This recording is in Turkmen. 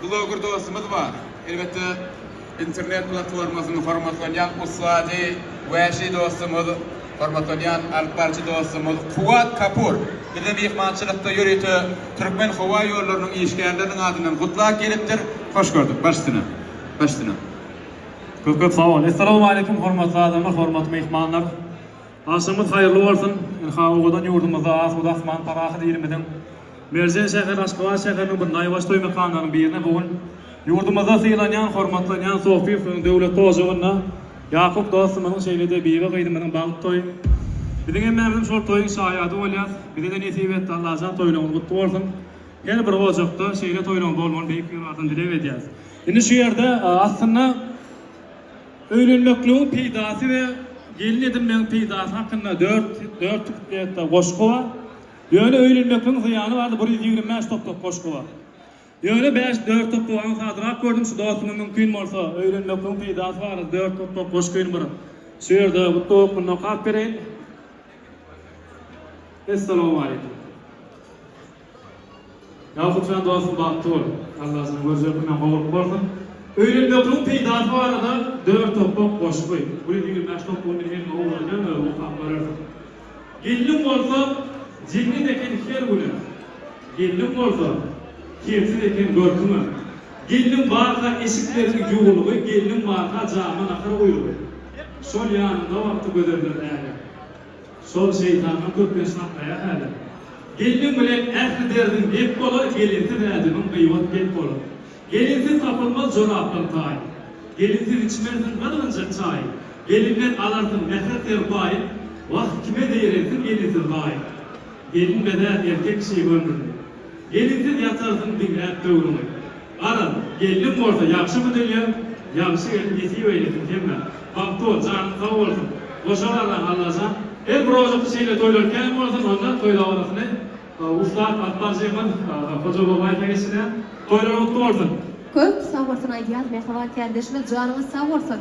Bloger dostumyz bar. Elbetde internet platformasyny hormatlanýan ussady wäşi dostumyz, hormatlanýan alyp barçy dostumyz Kuwat Kapur bize myhmançylykda ýörite Türkmen howa ýollarynyň işgärleriniň adyndan gutlak gelipdir. Hoş gördük baş üstüne. Baş üstüne. Köp köp sag bol. Essalawmaleýkum hormatly adamlar, hormatly myhmanlar. Agşamyz haýyrly bolsun! Ynha owadan ýurdumyzda asuda asman, parahat ilimiziň merjen şäheri Aşgabat şäheriniň bir naýbaşy toý mekanlarynyň birine bu gün ýurdumyzda sylanýan, hormatlanýan Sofýewiň döwletli ojagynda Ýakup dostumyzyň şeýle-de Bibi gyzymyzyň bagty toýy biziň hemmämizem şol toýuň şaýady bolýas. Bize-de nesip etdi Allajan toýlaryňyz gutly bolsun. Her bir ojakda şeýle toýlaryň bolmagyny Beýik Ýaradan dileg edýäs. Indi şu ýerde aslynda. Öýlenmekligiň peýdasy we gelin edinmegiň peýdasy hakynda dört dört kuplette goşgy bar. Ýöne öýlenmekligiň zyýany bardy, bir ýüz ýigrimi bäş topbak goşgy bar. Ýöne bäş dört topbagy aňsadrak gördüm, şu dostuma mümkin bolsa, öýlenmekligiň peýdasy barada dört topbak goşgyny bir şu ýerde gutlag hökmünde okap bereýin. Essalawmaleýkim. Ýagupjan dostum bagtly bol. Allah seni görjek günden gowulyk bolsun. Öýlenmekligiň peýdasy barada dört okap goşgy. Bu ýerde ýigrimi bäş toplugyny men hemme owrenýän özüň okap görersiň. Gelniň bolsa jennet eken her güne. Gelniň bolsa kersiz eken görküňe. Gelniň barka eşikleriň ýuwulygy gelniň barka jama nahar guýrugy. Şol ýanyňda wagty gözeldir näge. Şol şeýtanyň köplenç hakdaýa häli. Gelniň bilen ähli derdiň dep bolar, gelinsiz ädimiň gybat pet bolar. Gelinsiz tapylmaz jorapdan taý. Gelinsiz içmersiň gyzgynjak çaý. Gelinden alarsyň mähir serpaý. Wah, kime zeýrensin gelinsiz gaý. Gelin bezär erkek kişi göwnüni. Gelinsiz ýatarsyň diňläp döwrüňi. Garaz, gelnim bolsa ýagşymy dünýäm, ýagşy gelin nesip eýlesin hemmä. Magtymguly, janyň sag bolsun. Goşa garra, Allajan, her bir ojakda şeýle toýlar kän bolsun, onda toý dabarasyny ussat Gatbar Jeýhun aga, Hoja Babaýew heýeşine. Toýlar gutly bolsun! Köp sag bolsun aýdýas Mähriban kärdeşimiz janyňyz sag bolsun.